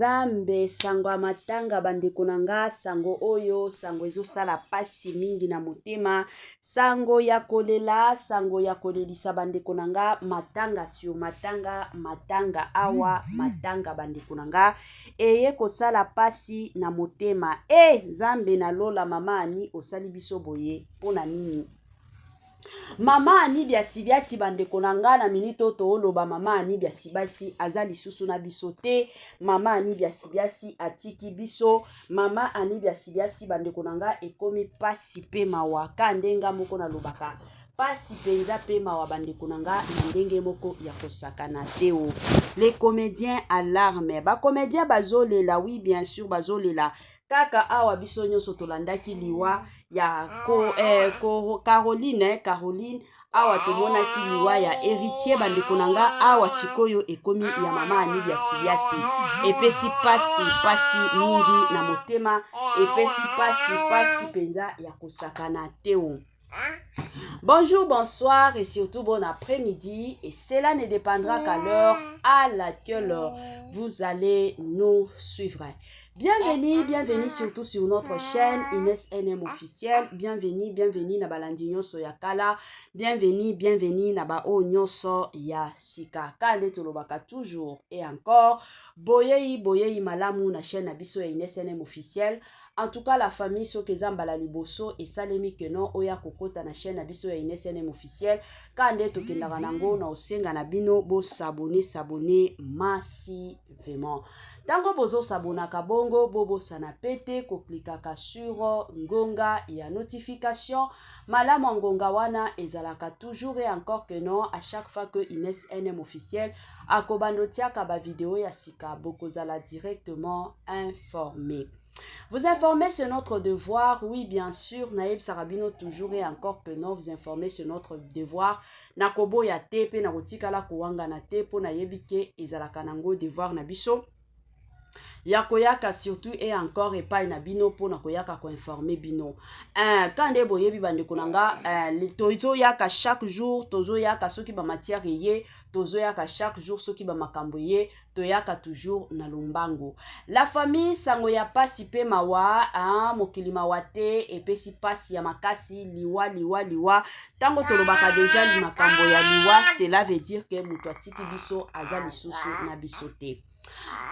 nzambe sango ya matanga bandeko na nga sango oyo sango ezosala mpasi mingi na motema sango ya kolela sango ya kolelisa bandeko na nga matanga sur matanga matanga awa matanga bandeko na nga eye kosala pasi na motema eh nzambe na lola mama ani osali biso boye mpo na nini mama ani biasibiasi bandeko na ngai na minite oyo tooloba mama ani biasibiasi aza lisusu na biso te mama ani biasibiasi atiki biso mama ani biasibiasi bandeko na ngai ekomi mpasi mpe mawaka ndenga moko nalobaka Pasi penza pe mawa bandeko na nga na ndenge moko ya kosakana te o. Oh. Les comédiens alarme. Ba comédiens bazolela, oui bien sûr bazolela. Kaka awa biso nyonso tolandaki liwa ya ko, eh, ko, Caroline, eh, Caroline awa tomonaki liwa ya héritier bandeko na nga awa sikoyo ekomi ya mama anili ya siliasi epesi pasi pasi mingi na motema epesi pasi pasi mpenza ya kosakana teo Bonjour, bonsoir et surtout bon après-midi. Et cela ne dépendra qu'à l'heure à laquelle vous allez nous suivre. Bienvenue, bienvenue surtout sur notre chaîne Inès NM officiel. Bienvenue, bienvenue na balandi nyonso ya kala. Bienvenue, bienvenue na ba o nyonso ya sika. Kande tolobaka toujours et encore. Boyei, boyei malamu na chaîne na biso ya Inès NM officiel. En tout cas la famille soki eza mbala liboso esalemi que non oya kokota na chaîne na biso ya INSNM officiel ka nde tokendaka nango na osenga na bino bo s'abonner s'abonner masi vraiment tango bozo s'abonaka bongo bobosana pete koklikaka sur ngonga ya notification malamu ya ngonga wana ezalaka toujours et encore que non à chaque fois que INSNM officiel akobanda otiaka ba video ya sika bokozala directement informé Vous informer sur notre devoir, oui bien sûr, Naïb Sarabino toujours et encore que non, vous informer sur notre devoir. Nakobo ya te pe nakotikala kowanga na te po nayebi ke ezalaka nango devoir na biso. ya koyaka surtout e encore epai na bino mpo na koyaka koinforme bino eh, ka nde boyebi bandeko na nga eh, tozoyaka chaque jour tozoyaka soki bamatière eye tozoyaka chaque jour soki bamakambo eye toyaka toujours na lombango la famille sango ya pasi pe mawa ah, mokili mawa te epesi pasi ya makasi liwa liwa liwa ntango tolobaka deja makambo ya liwa cela veut dire que moto atiki biso aza lisusu na biso te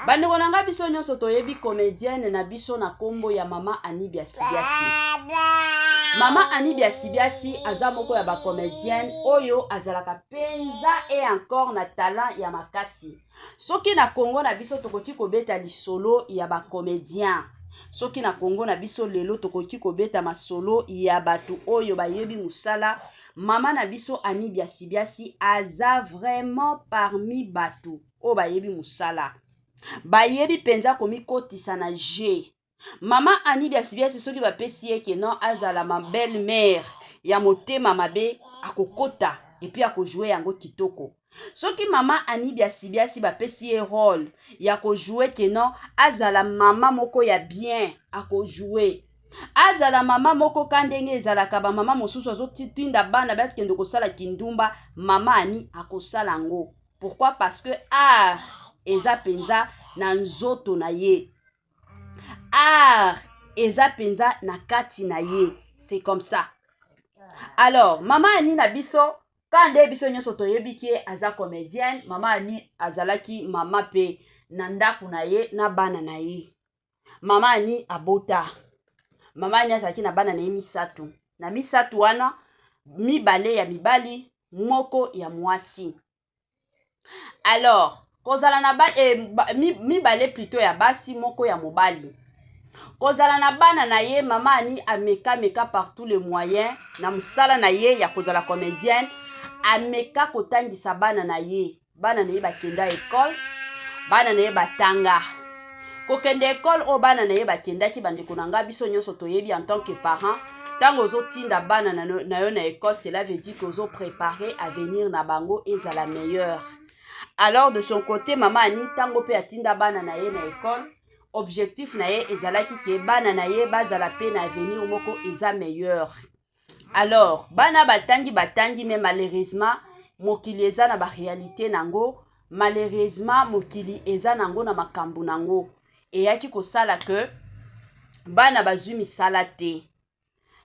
bandeko na ngai biso nyonso toyebi comedienne na biso na nkombo ya mama anibia sibiasi mama anibia sibiasi aza moko ya bacomedienne oyo azalaka mpenza e encore na talent ya makasi ti soki na congo na biso tokoki kobeta lisolo ya bacomedien soki na congo na biso lelo tokoki kobeta masolo ya bato oyo bayebi mosala mama na biso ani biasibiasi aza vraiment parmi bato oyo bayebi mosala bayebi mpenza komikotisa na je mama ani biasibiasi soki bapesi ye ke non azala ma belle mère ya motema mabe akokota epuis akojoue yango kitoko soki mama ani biasibiasi bapesi ye role ya kojoue ke non azala mama moko ya bien akojoue azala mama moko ka ndenge ezalaka bamama mosusu azotinda bana bakende kosala kindumba mama ani akosala yango pourquoi parce que art eza mpenza na nzoto na ye art eza mpenza na kati na ye c'est comme ça alors mama ani na biso ka nde biso nyonso toyebi ke aza comedienne mama ani azalaki mama mpe na ndako na ye na bana na ye mama ani abota mama ani azalaki na bana na ye misato na misato wana mibale ya mibali moko ya mwasi alors kozala na ba, eh, ba, mibale plutôt ya basi moko ya mobali kozala na bana na ye mama ani ameka meka par tous les moyens na mosala na ye ya kozala comédienne ameka kotangisa bana na ye bana na ye bakenda ekole bana na ye batanga kokende ekole oyo bana na ye bakendaki bandeko na ngai biso nyonso toyebi en tant que parent ntango ozotinda bana na yo na ekole cela veut dire que ozoprépare avenir na bango ezala meilleur alors de son côté mama ani ntango mpe atinda bana na ye na ekole objectif na ye ezalaki ke bana na ye bazala mpe na avenir moko eza meilleur alors bana batangi batangi mais malheureusement mokili eza na barealité na yango malheureusement mokili eza na yango na makambo na yango eyaki kosala ke bana bazwi misala te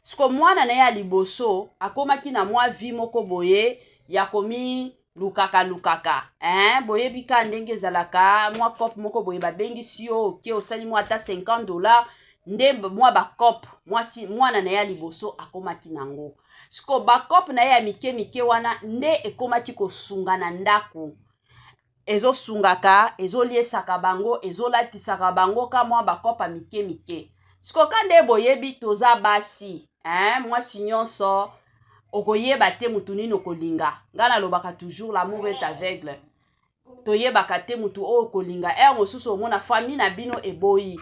siko mwana na ye ya liboso akomaki na mwa vi moko boye ya komi lukaka lukaka eh, boyebi ka ndenge ezalaka mwa cope moko boye babengisi yo oke osali mwa ata 50 dollar nde mwa bacope mwasi mwana na ye ya liboso akomaki na yango siko bacope na ye ya mike mike wana nde ekomaki kosunga na ndako ezosungaka ezoliesaka bango ezolatisaka bango ka mwa bacope ya mike mike siko ka nde boyebi toza basi eh, mwasi nyonso okoyeba te motu nini okolinga ngai nalobaka toujours l'amour est aveugle toyebaka te motu oyo okolinga heure mosusu omona famille na bino eboyi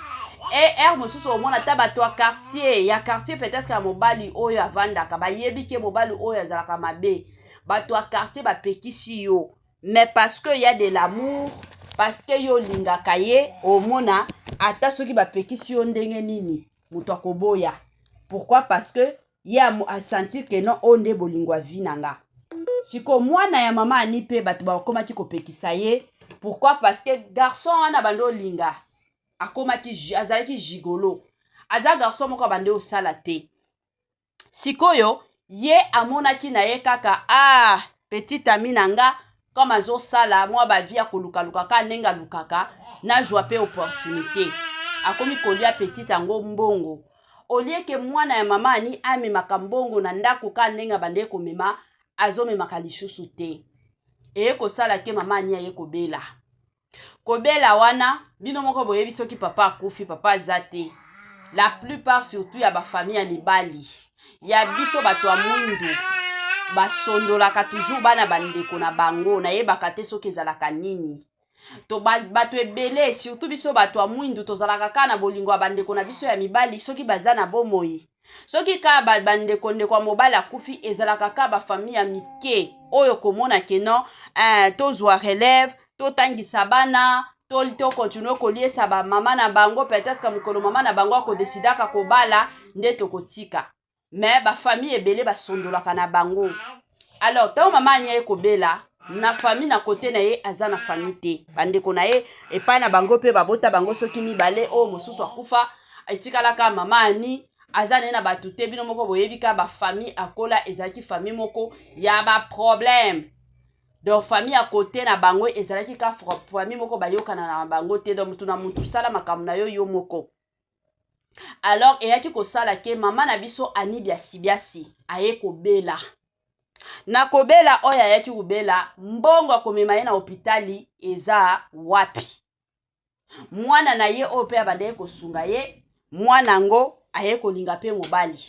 e heure mosusu omona ata bato ya quartier ya quartier peut-être ya mobali oyo avandaka bayebi ke mobali oyo azalaka mabe bato ya quartier bapekisi yo mais parce que ya de l'amour parce que yo olingaka ye omona ata soki bapekisi yo ndenge nini moto akoboya pourquoi parce que ye a sentir que non oyo nde bolingo ya vie na nga siko mwana ya mama ani mpe bato bakomaki kopekisa ye pourquoi parce que garçon wana bande olinga akomaki azalaki gigolo aza garçon moko abande osala te sikoyo ye amonaki na ye kaka ah petite ami na nga comme azosala mwa bavie ya kolukaluka kaka ndenge alukaka nazwa mpe opportunité akomi kolia petite yango mbongo olieke mwana ya mama ani amemaka mbongo na ndako kaka ndenge abandeki komema azomemaka lisusu te eye kosala ke mama ani aye kobela kobela wana bino moko boyebi soki papa akufi papa aza te la plupart surtout ya bafamille ya mibali ya biso bato ya mwindu basondolaka toujours bana bandeko na bango nayebaka te soki ezalaka nini to bato ebele surtout biso bato ya mwindu tozalaka kaka na bolingo ya bandeko na biso ya mibali soki baza na bomoi soki kaka bandeko ndeko ya mobali akufi ezalaka kaka bafamille ya mike oyo komona ke non eh, tozwa relève totangisa bana to tokontinue koliesa bamama na bango peut-être mokolo mama na bango akodesidaka kobala nde tokotika me bafamille ebele basondolaka na bango alors ntango mama ania ye kobela na fami na kote na ye aza na fami te bandeko na ye epai na bango mpe babota bango soki mibale oyo mosusu akufa etikalaka mama ani aza naye na bato te bino moko boyebi ka bafami akola ezalaki fami moko ya baproblème donc fami ya kote na bango ezalaki ka fami moko bayokana na bango te donc motu na motu sala makambo na yo yo moko alors eyaki kosala ke mama na biso ani biasibiasi aye kobela na kobela oyo ayaki kobela mbongo ya komema ye na hopitali eza wapi mwana na ye oyo mpe abandaki kosunga ye mwana yango aye kolinga mpe mobali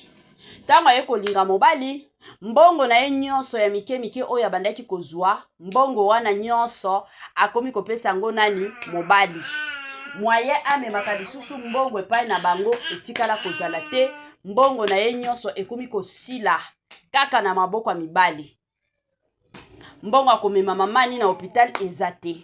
ntango aye kolinga mobali mbongo na ye nyonso ya mike mike oyo abandaki kozwa mbongo wana nyonso akomi kopesa yango nani mobali mwaye amemaka lisusu mbongo epai na bango etikala kozala te mbongo na ye nyonso ekomi kosila kaka na maboko ya mibali mbongo ya komema mama ani na hopital eza te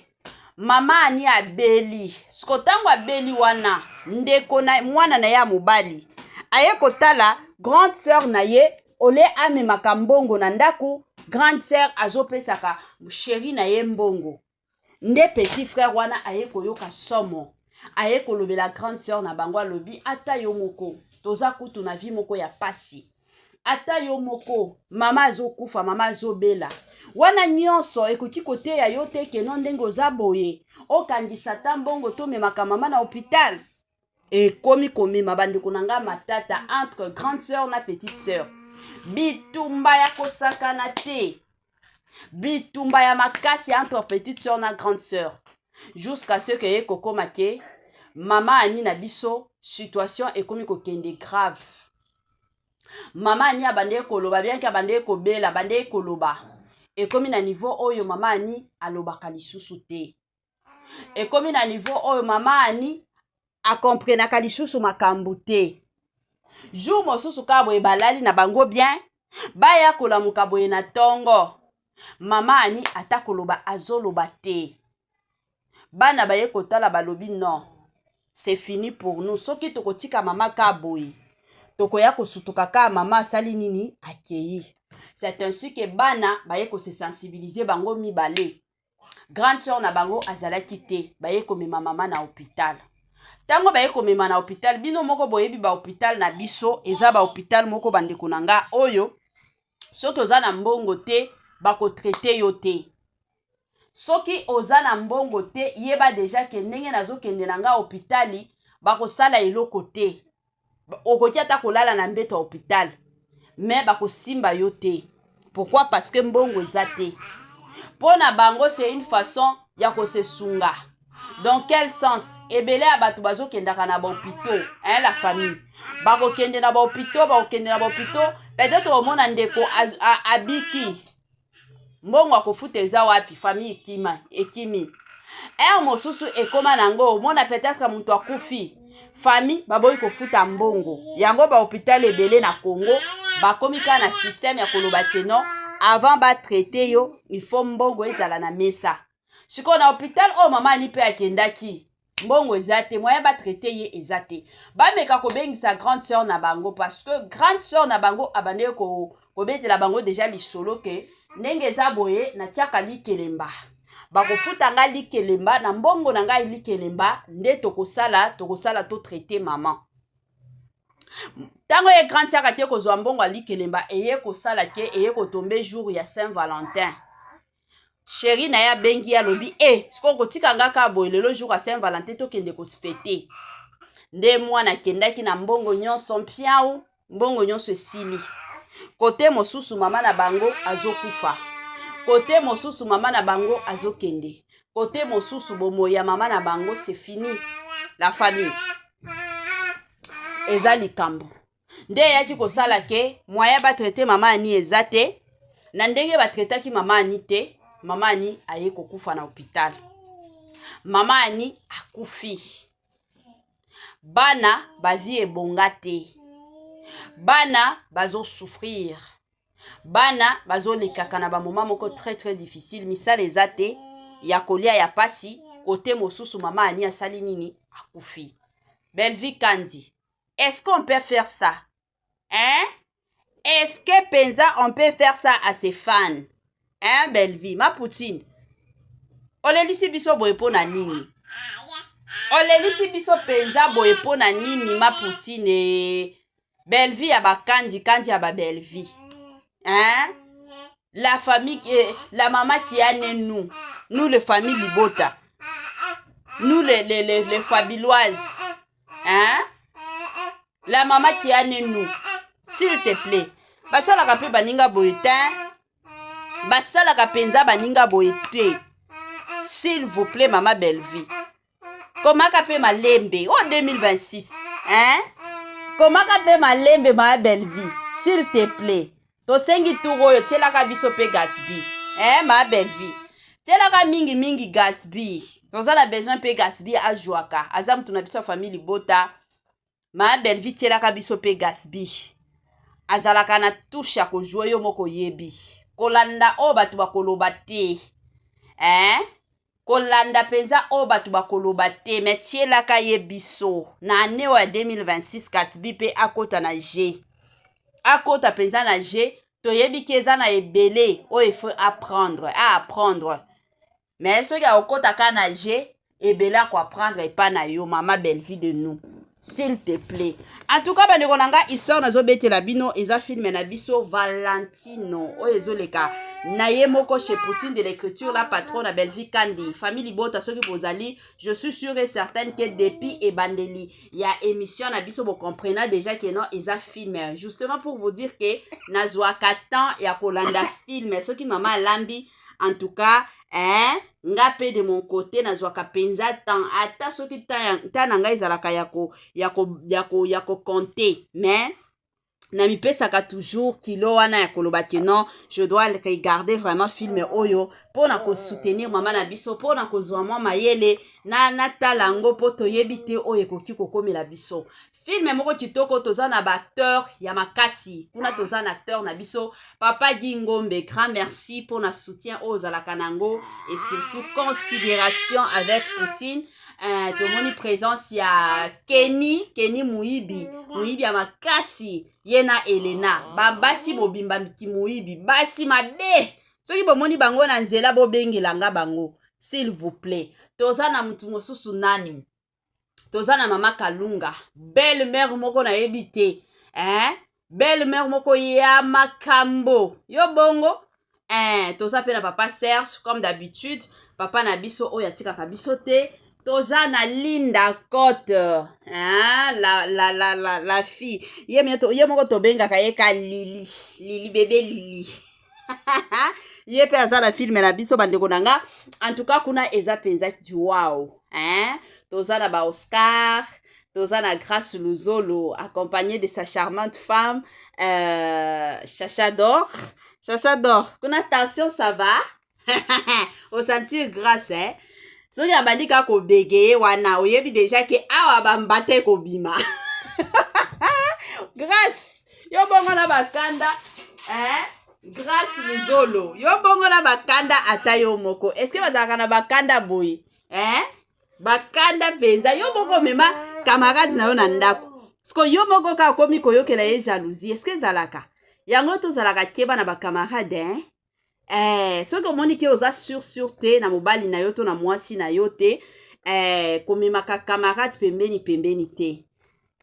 mama ani abeli siko ntango abeli wana ndeko na mwana na ye ya mobali aye kotala grande sœur na ye ole amemaka mbongo na ndako grande sœur azopesaka sheri na ye mbongo nde petit frère wana aye koyoka somo aye kolobela grande sœur na bango alobi ata yo moko toza kutu na vie moko ya pasi ata yo moko mama azokufa mama azobela wana nyonso ekoki koteya yo te keno ndenge oza boye okangisa ata mbongo tomemaka mama na hopitale ekomi komema bandeko na ngai matata entre grande sœur na petite sœur bitumba ya kosakana te bitumba ya makasi entre petite sœur na grande sœur jusqu'à ce que ye kokoma ke mama ani na biso situation ekomi kokende grave mama ani abandaki koloba bianke abandaki kobela abandaki koloba ekomi na niveau oyo mama ani alobaka lisusu te ekomi na niveau oyo mama ani akomprenaka lisusu makambo te jour mosusu kaka boye balali na bango bien baya kolamuka boye na ntongo mama ani ata koloba azoloba te bana baye kotala balobi non c'est fini pour nous soki tokotika mama ka boye tokoya kosutuka ka mama asali nini akei c'est ainsi que bana baye kose sensibiliser bango mibale grande sœur na bango azalaki te baye komema mama na hôpital ntango baye komema na hôpital bino moko boyebi bahôpital na biso eza bahôpital moko bandeko na nga oyo soki oza na mbongo te bakotraite yo te soki oza na mbongo te yeba deja ke ndenge nazokende na nga hôpitali bakosala eloko te okoki ata kolala na mbeto ya hôpital mais bakosimba yo te pourquoi parce que mbongo eza te mpo na bango c'est une façon ya kosesunga dans quel sens ebele ya bato bazokendaka na bahopito hein, la famille bakokende na bahopito bakokende na bahopito peut-être omona ndeko abiki mbongo ya kofuta eza wapi famille ekima ekimi heure mosusu ekoma na yango omona peut-être moto akufi famille baboyi kofuta mbongo yango bahôpital ebele na congo bakomi kaka na système ya koloba te non avant batraite yo il faut mbongo ezala na mesa sikoyo na hôpital oyo mama ani mpe akendaki mbongo eza te moyen batraite ye eza te bameka kobengisa grande sœur na bango parce que grande sœur na bango abandeki kobetela bango deja lisolo ke ndenge eza boye natiaka likelemba bakofuta ngai likelemba na mbongo na ngai likelemba nde tokosala tokosala to traite mama ntango ye grande sœur ake kozwa mbongo ya likelemba eye kosala ke eye kotombe jour ya saint valentin sheri na ye abengi ye alobi e eh, sikoyo kotika nga kaka boye lelo jour ya saint valentin tokende kosfete nde mwana akendaki na mbongo nyonso mpiau mbongo nyonso esili kote mosusu mama na bango azokufa kote mosusu mama na bango azokende kote mosusu bomoi ya mama na bango se fini la famille eza likambo nde eyaki kosala ke moyen batraite mama ani eza te na ndenge batraitaki mama ani te mama ani aye kokufa na hopital mama ani akufi bana bavi ebonga te bana bazosouffrir bana bazolekaka na bamoma moko très très difficile misala eza te ya kolia ya pasi kote mosusu mama ani asali nini akufi belvi kandi est ce qu'on peut faire ça hein est ce que mpenza on peut faire ça à ses fans hein bellevie ma poutine olelisi biso boye mpo na nini olelisi biso mpenza boye mpo na nini ma poutine bellevie ya bakandi kandi ya babellevie hein la famille eh, la mama qui a né nous nous les familles libota nous les, les, les, les fabiloises hein? la mama qui a ne nous s'il te plaît basalaka mpe baninga boye te basalaka mpenza baninga boye te s'il vous plaît mama bellevie komaka mpe malembe o oh, 2026 hein? komaka mpe malembe mama bellevie s'il te plaît Tosengi tour oyo tielaka biso pe Gatsby. Eh ma belle vie. Tielaka mingi mingi Gatsby. Toza na besoin pe Gatsby ajouaka. Aza mutu na biso famille libota. Ma belle vie tielaka biso pe Gatsby. Azalaka na touche ya ko jouer yo moko yebi. Kolanda oyo bato bakoloba te. Eh? kolanda mpenza oyo bato bakoloba te me tielaka ye biso na ane oyo ya 2026 katbi mpe akota na je akota mpenza na je toyebi ki eza na ebele oyo efo apprendre a apprendre me soki akokota kaka na je ebele akoapprendre epa na yo mama bellevue de nous s'il te plaît en tout cas bandeko na ngai histoire nazobetela bino eza filme na biso valentino oyo ezoleka na ye moko chez poutine de l'écriture la patron na bellevie kandi famille libota soki bozali je suis sûr et certaine que depuis ebandeli ya émission na biso bocomprena déjà que non eza filme justement pour vous dire que nazwaka temps ya kolanda filme soki mama alambi en tout cas eh, nga mpe de mon côté nazwaka mpenza temps ata soki temps na ngai ezalaka ya ko ya ko ya ko ya ko compter mais namipesaka toujours kilo wana ya koloba ke non je dois regarder vraiment filme oyo mpo na kosoutenir mama na biso mpo na kozwa mwa mayele na natala yango mpo toyebi te oyo ekoki kokomela biso filme moko kitoko toza na baacteur ya makasi kuna toza na acteur na biso papa gi ngombe grand merci mpo na soutien oyo ozalaka na yango et surtout considération avec poutine uh, tomoni présence ya keni keni moyibi moyibi ya makasi ye na elena babasi bobimba kimoyibi basi mabe soki bomoni bango na nzela bobengela nga bango s'il vous plaît toza na motu mosusu nani toza na mama kalunga belle mère moko nayebi te eh? belle mère moko ya makambo yo bongo eh, toza mpe na papa serge comme d'habitude papa na biso oyo atikaka biso te toza na linda cote hein? la, la, la, la, la fille ye, to, ye moko tobengaka ye ka lili lili bebe lili ye mpe aza na filme na biso bandeko na nga en tout cas kuna eza mpenza wow hein toza na ba oscar toza na grace luzolo accompagné de sa charmante femme euh, chacha dor chacha dor kuna tension ça va osentir grace hein? soki abandi kaka kobegeye wana oyebi deja ke awa bambata ekobima grace yo bongo na bakanda eh? grace luzolo yo bongo na bakanda ata yo moko eske bazalaka na bakanda boye eh? bakanda mpenza yo moko omema kamarade na yo na ndako siko yo moko kaka okomi koyokela ye jalousie eske ezalaka yango tozalaka keba na bakamarade eh? eh, soki omoni ke oza sur sur te na mobali na yo to na mwasi na yo te eh, komemaka camarade pembeni pembeni te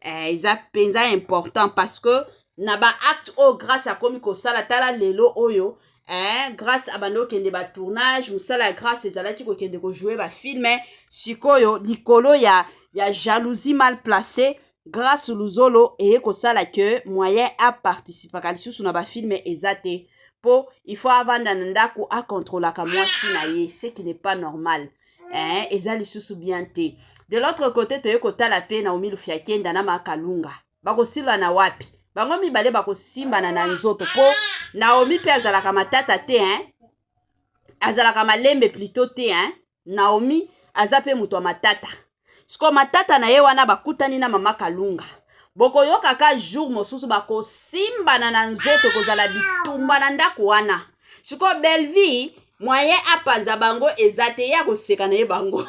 eh, eza mpenza important parce que na baacte oyo grace akomi kosala tala lelo oyo eh, grace abandi kokende batournage mosala ya grace ezalaki kokende kojoue bafilme sikoyo likolo ya, ya jalousie mal placée grace luzolo eye kosala ke moyen aparticipaka lisusu na bafilme eza te mpo il faut avanda na ndako akontrolaka mwasi na ye ce qui n'est pas normal eh, eza lisusu bien te de l'autre côté toye kotala mpe na omilufia kenda na makalunga bakosila na wapi bango mibale bakosimbana na nzoto mpo naomi mpe azalaka matata te hein? azalaka malembe plutôt te hein? naomi aza mpe moto ya matata siko matata na ye wana bakutani na mama kalunga bokoyoka ka jour mosusu bakosimbana na nzoto ekozala bitumba na ndako wana siko bellevie mwaye apanza bango eza te ye akoseka na ye bango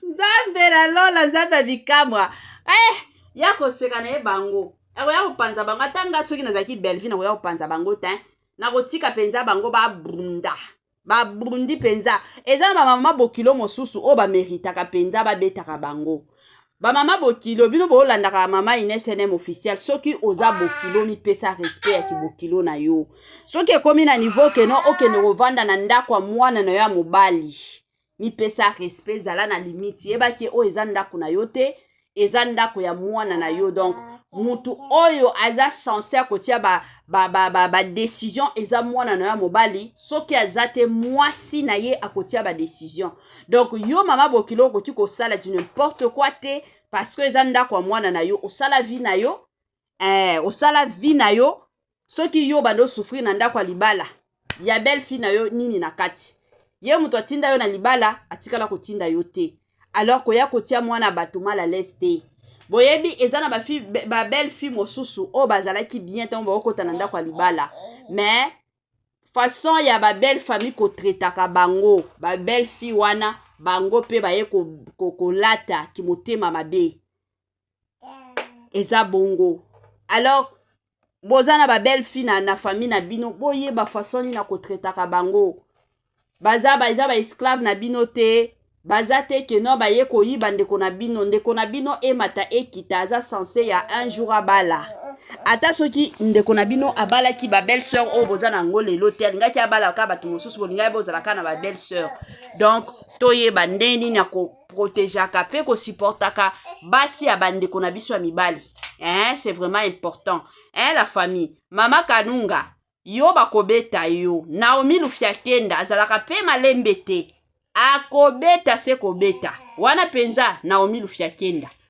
nzambe na lola nzambe ya bikamwa eh, ya koseka na ye bango akoya kopanza bango ata nga soki nazalaki bellevie nakoya kopanza bango te nakotika mpenza bango babunda babundi mpenza eza na bamama bokilo mosusu oyo bameritaka mpenza babetaka bango bamama bokilo bino bolandaka mama inesnm officiel soki oza bokilo mipesa respect ya kibokilo na yo soki ekomi na niveau keno okende kovanda na ndako ya mwana na yo ya mobali mipesa respect zala na limite yeba ke oyo eza ndako na yo te eza ndako ya mwana na yo donc mutu oyo aza sense ya kotia badecision ba, ba, ba eza mwana na yo ya mobali soki aza te mwasi na ye akotia badecision donc yo mama bokilo okoki kosala du n'importe quoi te parce que eza ndako ya mwana na yo osala vie na yo eh, osala vie na yo soki yo obanda osouffrir na ndako ya libala ya belle fille na yo nini na kati ye moto atinda yo na libala atikala kotinda yo te alors koya kotia mwana bato mal à l'aise te boyebi eza na babelle fille mosusu oyo bazalaki bien ntango bakokota na ndako ya libala mais façon ya babelle famille kotretaka bango babelle fille wana bango mpe baye kolata ko, ko kimotema mabe eza bongo alors boza na babelle fille na, na famille na bino boyeba façon nini na kotraitaka bango baza ba, eza baesclave na bino te baza te ke no baye koyiba ndeko na bino ndeko na bino emata ekita aza sense ya un jour abala ata soki ndeko na bino abalaki babelle sœur oyo boza na yango lelo te alingaki abalaka bato mosusu bolingaki bozalaka na babelle sœur donc toyeba nde nini protegeaka pe ko supportaka basi ya bandeko na biso ya mibali eh, c'est vraiment important eh, la famille mama kanunga yo bakobeta yo naomi lufiakenda azalaka pe malembe te akobeta se kobeta wana mpenza naomi lufiakenda